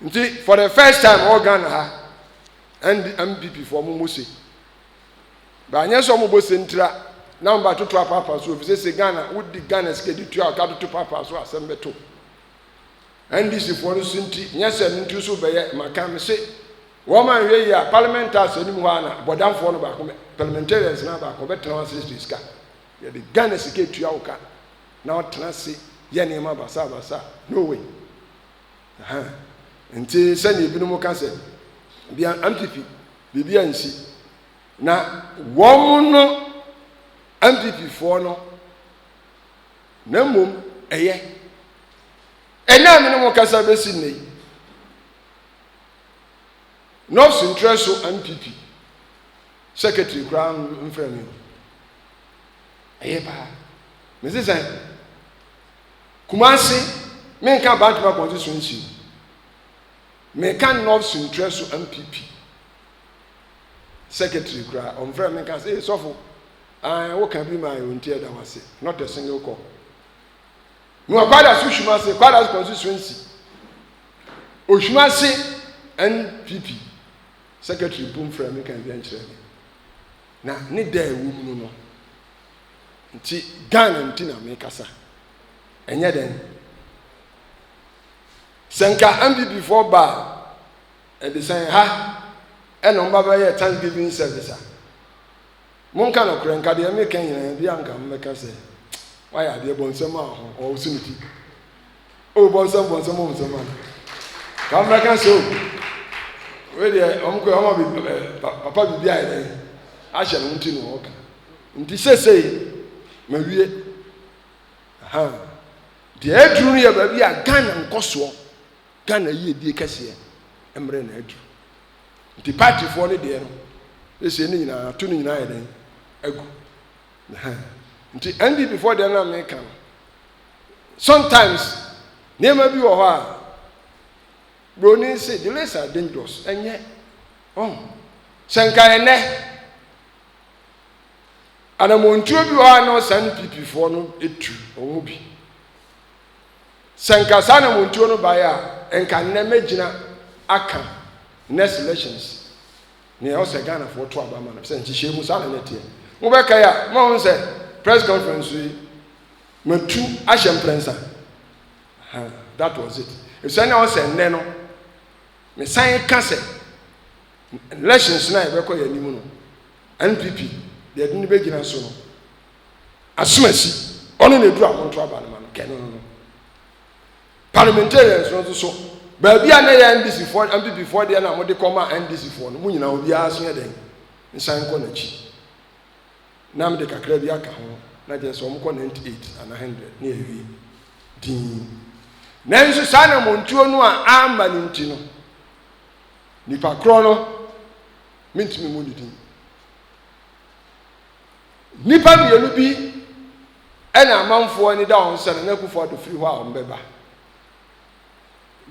Nti for the first time ɔwɔ Ghana ha ɛnde MPP fo ɔmo mo se ba anyɛ sɛ ɔmo bɔ se ntira na ɔmo ba toto apaapa so efisɛ se Ghana wodi Ghana sika di tua ɔka toto paapa so asɛm bɛto NDC foɔ no so nti nyɛ sɛ no nti so bɛyɛ maka me se wɔn ma nhwɛ yie a parliament house anim hɔ a na bɔdamfoɔ no baako mɛ parliamentarians na baako bɛtena wɔn ase sika yɛde Ghana sika tua ɔka na ɔtena ase yɛ nneɛma basabasa no way. Nti sɛnea ebinom ka sɛ bia amfifi biribi ansi na wɔn no amfififoɔ no na mmom ɛyɛ ɛnɛ a mene mo kasa bɛsi nnɛ yi nɔfs ntrɛ so amfifi secretary koraa mfrɛ me o ɛyɛ paa mese sɛn Kumasi, menka Abantem Abɔdze so nsi no, meka North Suntrɛ so MPP secretary koraa, ɔmfrɛ me nka sɛ, ee sɔfo, ae, woka bi ma ayɛ nti ɛda wase, not a single call. Mewɔ Kwadaso Hwimase, Kwadaso constituency, Ohwimase NPP secretary mpo mfrɛ me nka adwankyerɛ me. Na ne da a ɛwɔ mu no no, Nti Ghana nti na mekasa. Ɛnyɛ dɛn. Sɛ nka MPPfoɔ ba a, ɛde sɛn ha ɛna wɔn ba bɛyɛ Thanksgiving service a. Monka nokorɛ nka deɛ meka nyinaa bi a nka mobɛka sɛ wayɛ adeɛ bɔnsɛm a ɔho ɔwɔ so ne ti. O bɔnsam bɔnsam o nsɛm a ka mmra ka sɛ o wei deɛ wɔn kɔ wɔn bi eh, papa biribi ayɛ dɛ ahyɛ no nti na wɔka nti sesei ma wie ahan deɛ aduru no yɛ baabi a Ghana nkɔsoɔ Ghana yiedie kɛseɛ mmerɛ na aduru nti paatifoɔ no deɛ no sesei ne nyinaa ato no nyinaa ayɛ dɛ agu nti NDP foɔ deɛ no a meka no sometimes nneɛma bi wɔ hɔ a broni se delays are dangerous ɛnyɛ ɔn sɛ nka ɛnɛ anamontuo bi wɔ hɔ a na ɔsan ne pipifoɔ no etu wɔn mu bi sɛ nka saa anamontuo no baeɛ a nka nnɛ mɛgyina aka next elections nea ɔsɛ ghanafoɔ to aba ma no sɛ nhyehyɛ mu saa na ne teɛ mobɛka yi a mahu sɛ press conference yi Matu ahyɛ mprɛnsa. Huh, that was it. Efisɛ na ɔsɛ nnɛ no, mesan ka sɛ, elections no a yɛbɛkɔ yɛn anim no, NPP, deɛ ɛde no bɛgyina so no, asomasi, ɔno na ɛduru amonto aba no ma no, kɛ no no no. Parliamentarians no nso so, baabi a na yɛ NDC foɔ, NPP foɔ deɛ na wɔde kɔma NDC foɔ no, mo nyinaa obiara so yɛ dɛn, nsan kɔ n'akyi. na mede kakra bi aka ho, na kyerɛ sɛ wɔkɔ 98 anaa 100 na awie dinn. Nanso saa anammɔntuo no a amma no nti no, nipa korɔ no mentumi mu ne din. Nnipa mmienu bi ɛna amanfoɔ ani da wɔn sɛ Nana Akufo-Addo firi hɔ a wɔn bɛba.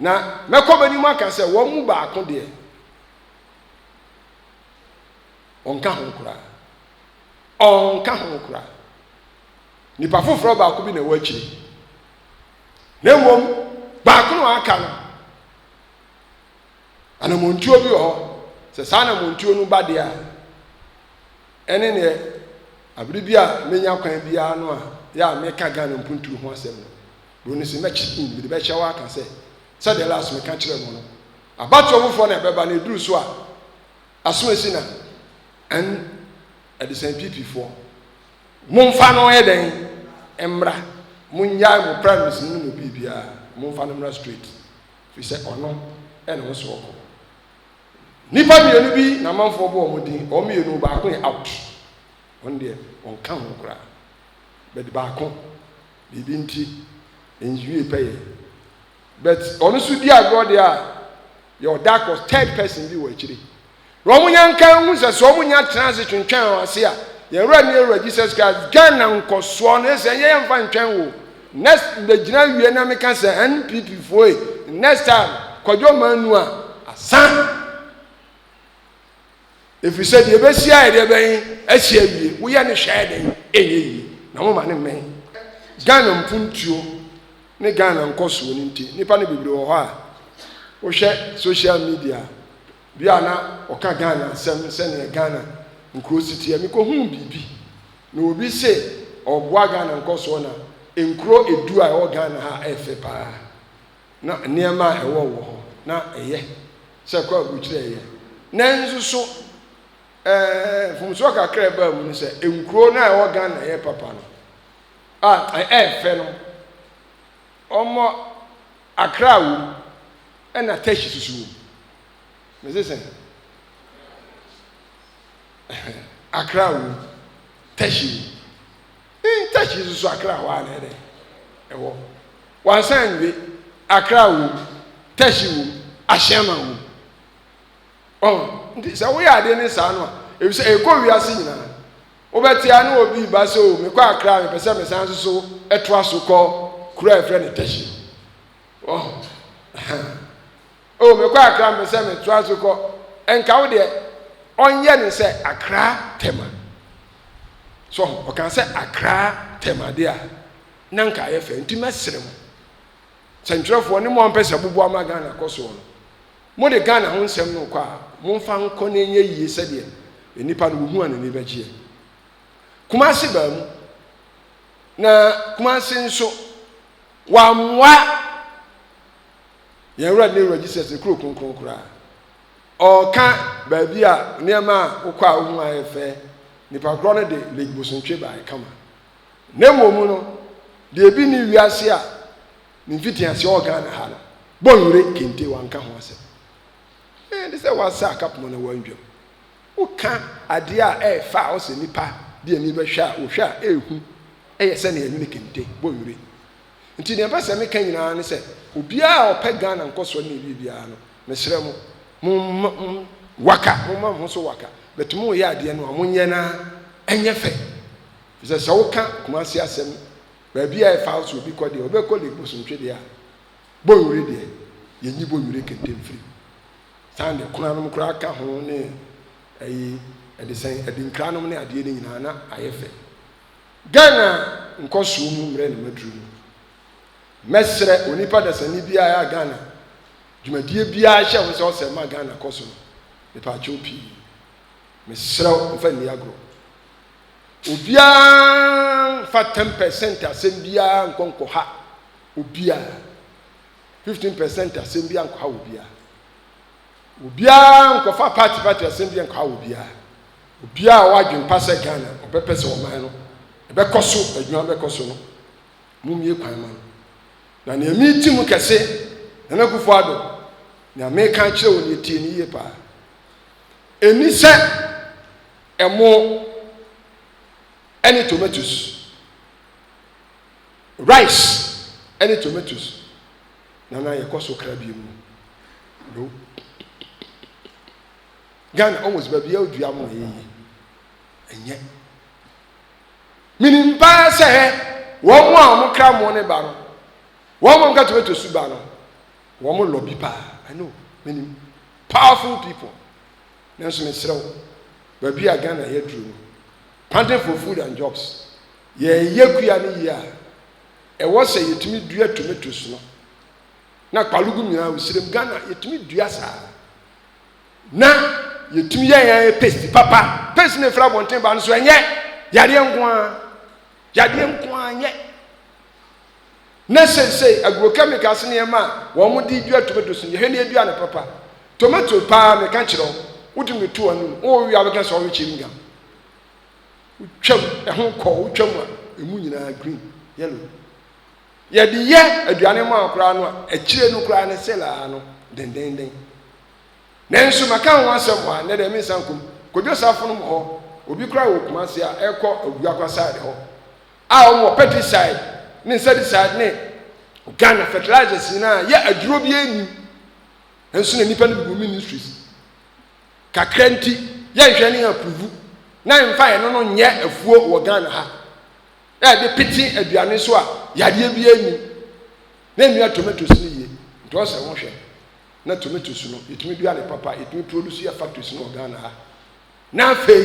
Na mɛkɔ bɛnim aka sɛ wɔn mu baako deɛ Ɔnka ho koraa. Ɔnka ho koraa. Nipa foforɔ baako bi na ɛwɔ akyire. Na mmom, baako na aka no. Anamontuo bi wɔ hɔ. Sɛ saa anamontuo no ba deɛ a, ɛne neɛ abere bi a menya kwan biara no a yɛ a meka Ghana mpuntuo ho asɛm no. Bro no sɛ mɛkyerɛ in, mede bɛkyerɛ wɔ aka sɛ, sɛdeɛ last meka kyerɛ mo no, abatoɔ foforɔ na ɛbɛba na ɛduru so a, Aso esi na ɛn ɛdesɛn PP foɔ monfa no yɛ dɛn mmra mongyae mo primaries no ne mo biribiara monfa no mmra straight firi sɛ ɔno ɛna ɔwɔ sɛ ɔkɔ nipa mmienu bi na amanfoɔ bɔ wɔn din wɔn mmienu baako yɛ out wɔn deɛ wɔn ka ho koraa bɛde baako biribi nti nwie pɛyɛ but ɔno nso di agorɔ deɛ a yɛ ɔda kɔ third person bi wɔ akyire na wɔn nya nka ehu sɛ sɛ wɔn nya tena ase twentwɛn wɔn ase a yɛn wura ne ewura jesus christ ghana nkɔsoɔ no ɛsɛ yɛyɛ nfa ntwɛn wo next bɛgyina wie na meka sɛ npp foe next time kwadwo maa nu a asan Ɛfiri sɛ deɛ ɛbɛsi ayɛ deɛ bɛn asi awie woyɛ ne hwɛ ayɛ dɛn ɛnyɛ yie na moma ne mmɛn Ghana mpuntuo ne Ghana nkɔsoɔ no nti nnipa no bebree wɔ hɔ a wohwɛ social media bi a na ɔka Ghana asɛm sɛdeɛ Ghana nkuro si teɛ mekɔhuu biribi na obi se ɔboa Ghana nkɔsoɔ na nkuro edu a ɛwɔ Ghana ha ɛfɛ paa na nneɛma a ɛwɔ wɔ hɔ na ɛyɛ sɛ kwaku kyerɛ yɛ. Nanso so ɛɛ mfomsoɔ kakra a ɛbaa mu no sɛ nkuro no a ɛwɔ Ghana a ɛyɛ papa no a ɛyɛ fɛ no wɔmmɔ Accra wɔ mu ɛna Teshie susu wɔ mu. Mese sɛn? Accra wɔ mu, Teshie wɔ mu. Intach yi soso Accra hɔ a na ɛyɛ dɛn? Ɛwɔ. Wansan nwie. Accra wom, Tach wom, Ashaiman wom. Ɔho, nti sɛ woyɛ adeɛ ne saa no a, ebisɛ ɛkɔ wiase nyinaa. Wobɛte a na obi ba sɛ o mekɔ Accra mepɛ sɛ mesan soso ɛtoa so kɔ kuro a ɛfrɛ no Tach. Ɔho, ɛhɛn. Oh mekɔ akra mpɛ sɛ me toa so kɔ nka wo deɛ ɔnyɛ ne sɛ akra tɛma so ɔka sɛ akra tɛma deɛ a na nka ayɛ fɛ nti mɛsere mo sɛntwerɛfoɔ ne mo a mpɛ sɛ boboa ma ghana kɔ soɔ no mo de ghana ho nsɛm no kɔ a momfa nkɔ na ɛnyɛ yie sɛdeɛ nnipa no wohu a n'ani bɛgyeɛ kumase baa mu na kumase nso wammoa Yɛn Wura ne Wura Jesus ne kuro kronkron koraa. Ɔreka baabi a nneɛma a wokɔ a wohu ayɛ fɛ, nipa korɔ no de Lake Bosontwe bae kama. Ne mmom no, deɛ ebi ni wiase a ne mfitiaseɛ wɔ Ghana ha no, Bonwire kente wanka ho asɛm. Ɛɛ de sɛ wasa akapoma na wandwam. Woka adeɛ a ɛyɛ fa a ɔsɛ nipa de ani bɛhwɛ a, wohwɛ a ɛrehu ɛyɛ sɛnea ɛno ne kente, Bonwire. Nti nea ɛpɛ sɛ me ka nyinaa ne sɛ obiara a ɔpɛ Ghana nkɔsoɔ ne ɛwie biara no mesrɛ mo mo mma mo waka mo mma mo ho so waka but mo yɛ adeɛ no a mo nyɛ na ɛnyɛ fɛ fi sɛ sɛ woka Kumasi asɛm baabi a ɛfa so obi kɔ deɛ ɔbɛ kɔ lake bosontwe deɛ a bɔnwere deɛ yɛ nyi bɔnwere kente mfiri saa deɛ kuna nom koraa ka ho ne ɛyi ɛde sɛn ɛde nkira nom ne adeɛ no nyinaa na ayɛ fɛ Ghana nkɔsoɔ mu mmerɛ na maduru mu. Mɛsrɛ onipa dasani biara a Ghana dwumadie biara hyɛ ho sɛ ɔsɛ ma Ghana kɔ so no, mepaakyɛw pii, mesrɛ wo mfa nni agorɔ. Obiara mfa 10 percent asɛm biara nkɔ nkɔha obiara. 15 percent asɛm biara nkɔha obiara. Obiara nkɔfa party party asɛm biara nkɔha obiara. Obiara a ɔwɔ adwempa sɛ Ghana ɔbɛpɛ sɛ ɔman no ɛbɛkɔ so, adwuma bɛkɔ so no, mommue kwan ma no. Na nea mereti mu kɛse, Nana Akufo-Addo, nea mereka akyerɛ wo nea tie no yie paa. Ɛnni sɛ ɛmo ɛne tomatoes, rice ɛne tomatoes, Nana yɛkɔ so kra bie mu. No. Ghana almost baabi a odua mo na ɛyɛ yie. Ɛnyɛ. Menim paa sɛ hɛ wɔn a wɔn kra mo ne ba no, wɔn a wɔka tomato su ba no, wɔn lɔ bi paa. I know. Menim. Powerful people. Nanso mesrɛ wo, baabi a Ghana yɛ duro no, panting for food and jobs. Yɛyɛ kua no yie a, ɛwɔ sɛ yɛtumi dua tomatoes no na kpalugum nyinaa wɔ sirem ghana yɛtumi dua saa na yɛtumi yɛ yɛn ayɛ paste papa paste na ɛfiri abɔnten ba no so ɛnyɛ yadeɛ nko ara yadeɛ nko ara nyɛ na seesei agrochemicals ne ɛma a wɔn de dua tomatoes no yɛhwɛ ne adua no papa tomato paa meka kyerɛ wo wotumi to anum wɔwia wobɛka sɛ ɔrekyɛ mu nyam wotwam ɛho kɔ wotwam a ɛmu nyinaa green yellow Yɛde yɛ aduane ma wɔn koraa no a, akyire no koraa no, Sela ara no, dendeenden. Nanso mɛka ho asɛm hɔ a, nnɛ deɛ mensa nkɔ mu. Kojo Safonom wɔ hɔ, obi koraa wɔ Kumasi a ɛrekɔ Oduakwa side hɔ a wɔwɔ pesticide ne insecticide ne Ghana fertilizers nyinaa a yɛ aduro biara nnim. Nso na nnipa no bu ministries kakra nti yɛnhwɛ ne yɛn approve na yɛmfa yɛn no no nyɛ afuo wɔ Ghana ha. na yɛde pete aduane so a yadeɛ biara nni mu na ɛnua tomatoes no yie nti ɔsɛ wohwɛ na tomatoes no yɛtumi dua ne papa yɛtumi produce yɛ factories no wɔ Ghana ha na afei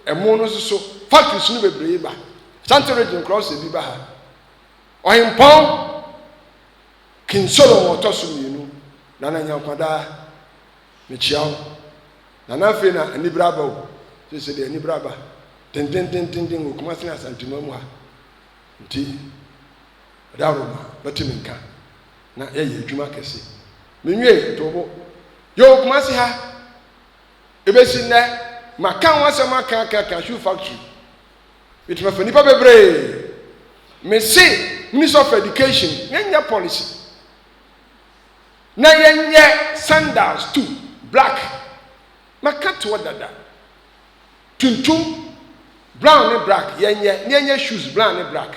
ɛmo no soso factories no bebree ba Asante region koraa ɔsɛ bi ba ha ɔhempɔn King Solomon ɔtɔ so mmienu Nana Nyankwadaa Mekyia wo. Na na afei na anibere aba o. Seesei deɛ anibere aba dendendenden wɔ Kumasi ne Asanteman mu ha. Nti ɛda horo ma bɛte me nka na yɛayɛ adwuma kɛse. Menwie too bo. Yɛwɔ Kumasi ha. Ɛbɛsi nnɛ maka ho asɛm aka aka aka shoe factory. Bɛtumi afa nnipa bebree. Mese Ministry of Education, yɛnyɛ policy. na yɛnyɛ sandals tu black maka toɔ dada tuntum brown ne black yɛnyɛ na yɛnyɛ shoes brown ne black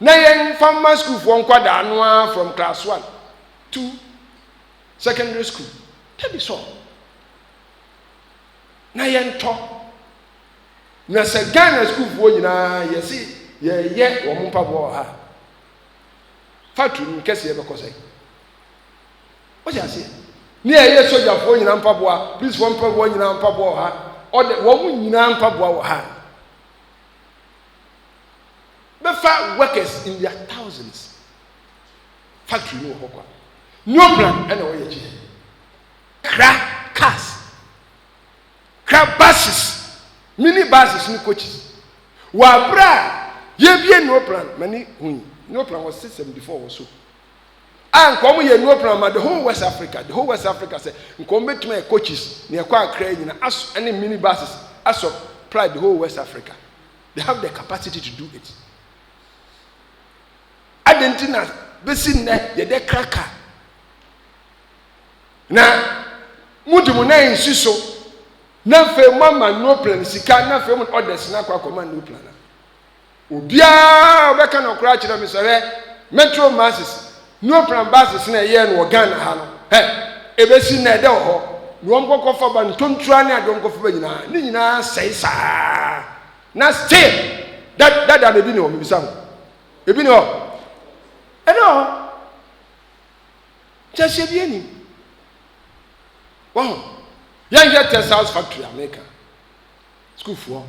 na yɛmfa ma sukuufoɔ nkwadaa no ara from class one to secondary school dabi sɔ na yɛntɔ na sɛ ghana sukuufoɔ nyinaa yɛsi yɛyɛ wɔn mpaboa wɔ ha. Factory no kɛseɛ bɛkɔ sɛn? Wote aseɛ? Ne a ɛyɛ sogyafoɔ nyinaa mpaboa, polisifoɔ mpaboa nyinaa mpaboa wɔ ha. Ɔde wɔn nyinaa mpaboa wɔ ha. Bɛfa workers in their thousands. Factory no wɔ hɔ kwa. New plan ɛna wɔyɛ kyerɛ. Kra cars. ka buses, mini buses ne coaches. Wɔ abere a yɛbie Neoplan, mani ho yi, Neoplan wɔ system before wɔ so. A nka wɔn yɛ Neoplan ma the whole West Africa, the whole West Africa sɛ nka wɔn bɛtumi ayɛ coaches ne ɛkɔ akra nyina as ɛne mini buses as of pride the whole West Africa. They have the capacity to do it. Adɛn nti na bɛsi nnɛ yɛdɛ kra car? na mode mo nan nsi so na afei moama noplan sika na afei mo orders no akɔ akɔma noplan a obiara ɔbɛka no koraa kyerɛ me sɛ hwɛ metro masses noplan bases na ɛyɛɛ no wɔ ghana ha no hɛ ɛbɛsi na ɛdɛ wɔ hɔ na wɔn kɔkɔfa ba ntontura ne adeɛ wɔn kɔfa ba nyinaa ne nyinaa sɛe saa na still dada na ebi ne hɔ mebisa ho ebi ne hɔ ɛne hɔ Nkyerɛkyerɛ biara nnim. Wahu? Yɛnhwɛ Texas factory a meka, sukuufoɔ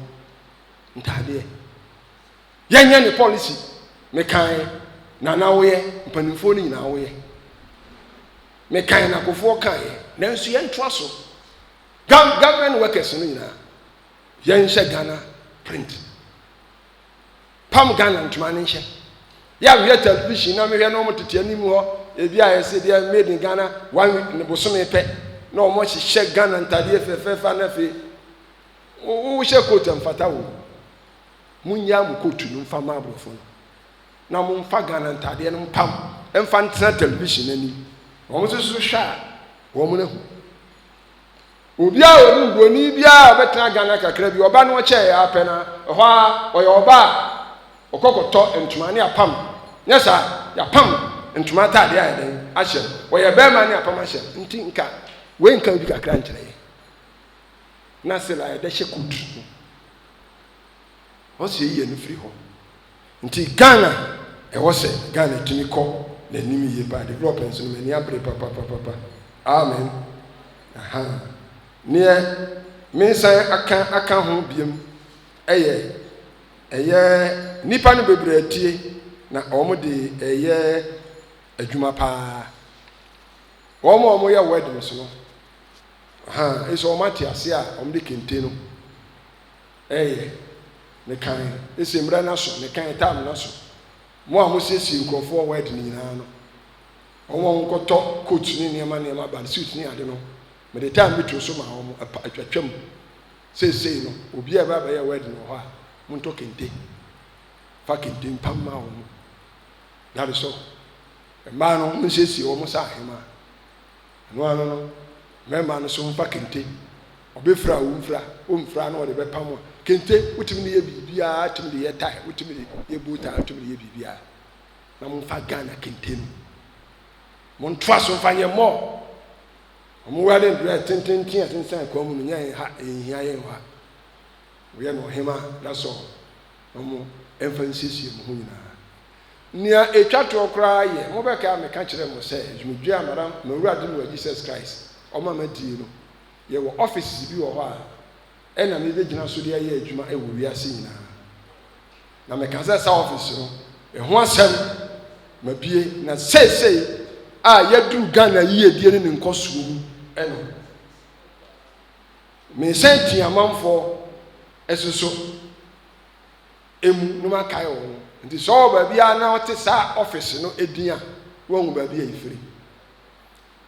ntaadeɛ. Yɛnyɛ ne policy mekan na na woyɛ mpanimfoɔ no nyinaa woyɛ. Mekan na kofoɔ kaeɛ nanso yɛntoa so. Government workers no nyinaa yɛnhyɛ Ghana print. pam Ghana ntoma no nhyɛ. Yɛ a mehwɛ television na mehwɛ na wɔn tete anim hɔ ebi a yɛsɛ deɛ made in Ghana one week ne bosome pɛ na wɔn hyehyɛ Ghana ntadeɛ fɛfɛɛfɛ na afei wohyɛ coat mfata wo. Monyɛ mo coat no mfa ma aborɔfo no na momfa Ghana ntadeɛ no mpam mfa ntena television anim. Wɔn nso so hwɛ a wɔn ahu. Obi a ɔnim buroni biara a ɔbɛtena Ghana kakra bi, ɔba na ɔkyɛɛ ara pɛ na ɛhɔ ara ɔyɛ ɔba a ɔkɔ kɔtɔ ntoma ne apam, nyɛ saa yɛapam ntoma ataadeɛ ayɛ dɛn ahyɛ no, ɔyɛ barima ne apam ahyɛ no. Nti nka wei nka obi kakra nkyerɛ yɛn. Na Sila yɛdɛ hyɛ coat. Once yɛyi yɛn ani firi hɔ. Nti Ghana ɛwɔ sɛ Ghana tumi kɔ n'anim yie paa. Develop nso no m'ani abere papapapapa. Amen. Ahaa. Neɛ mensan aka aka ho biom ɛyɛ ɛyɛ nnipa no bebree atie na wɔn de ɛyɛ adwuma paa. Wɔn a wɔyɛ weddings no, ahaa, ɛsɛ wɔn ate aseɛ a wɔn de kente no. Ɛyɛ, ne kan, ese mmerɛ no aso, ne kan, time no aso. Mo a mosiesie nkurɔfoɔ wɔ wed no nyinaa no, wɔn a wɔkɔtɔ coat ne nneɛma nneɛma ba no, suit ne ade no, mede time bi too so maa wɔn, ɛpa, atwatwam. Seesei no, obi a ɛbɛ abɛyɛ wed no wɔ hɔ a, montɔ kente. Fa kente mpa mma wɔn. That is all. Mmaa no, monsiesie wɔn sɛ ahemaa. Ɛno ano no, mmarima no nso mfa kente. Ɔbɛfira a ɔmfira, ɔmfira a na ɔde bɛpam a. Kente, wotumi de yɛ biribiara, tumi de yɛ tae, wotumi de yɛ bow tie, wotumi de yɛ biribiara. Na momfa Ghana kente no, montoa so mfa nyɛ more. Wɔn wedding dress tententen a ɛsensɛn kwan mu no, nyɛ ha, ɛnhia yɛn wɔ ha. Moyɛ no ɔhema, that's all. Na mo mfa nsiesie mo ho nyinaa. Nea ɛtwa toɔ koraa yɛ, mobɛkae a meka kyerɛɛ mo sɛ, dwumadie a Madam, m'Awurade ne Wura Jesus Christ, ɔma madie no, Yɛwɔ offices bi wɔ hɔ a nna mebegyina so de ayɛ adwuma wɔ wiase nyinaa. Na meka sɛ saa office no, ɛho asɛm, mabue, na seesei a yɛaduru Ghana yiedie ne ne nkɔsoɔ mu no, mesan pii amanfoɔ ɛso so emu na makae wɔn. Nti sɛ ɔwɔ baabi a na ɔte saa office no edin a, wɔahu baabi a ɛfiri.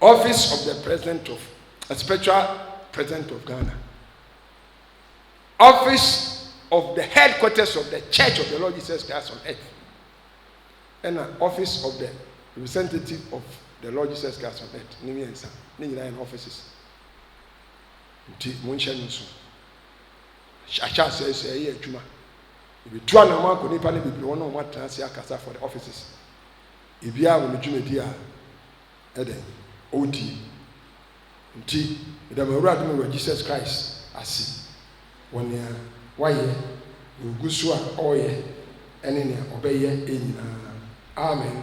Office of the President of uh, Spiritual President of Ghana, Office of the Headquarters of the Church of the Lord Jesus Christ on Earth, and uh, Office of the Representative of the Lord Jesus Christ on Earth. Ne mmiɛnsa, ne nyinaa yɛ offices. Nti mo nhyɛ no nso. Ahyɛ asɛ sɛ ɛyɛ adwuma. Ebi tu anamɔ akɔ nipa ne bebree wɔn a wɔn atena ase akasa for the offices. Ebiaa wɔ ne dwumadi a ɛdɛn ɔredie, nti meda m'Awurade ne wɔ Jesus Christ ase wɔ nea wayɛ, nea ɔgu so a ɔreyɛ, ɛne nea ɔbɛyɛ nyinaa. Amen.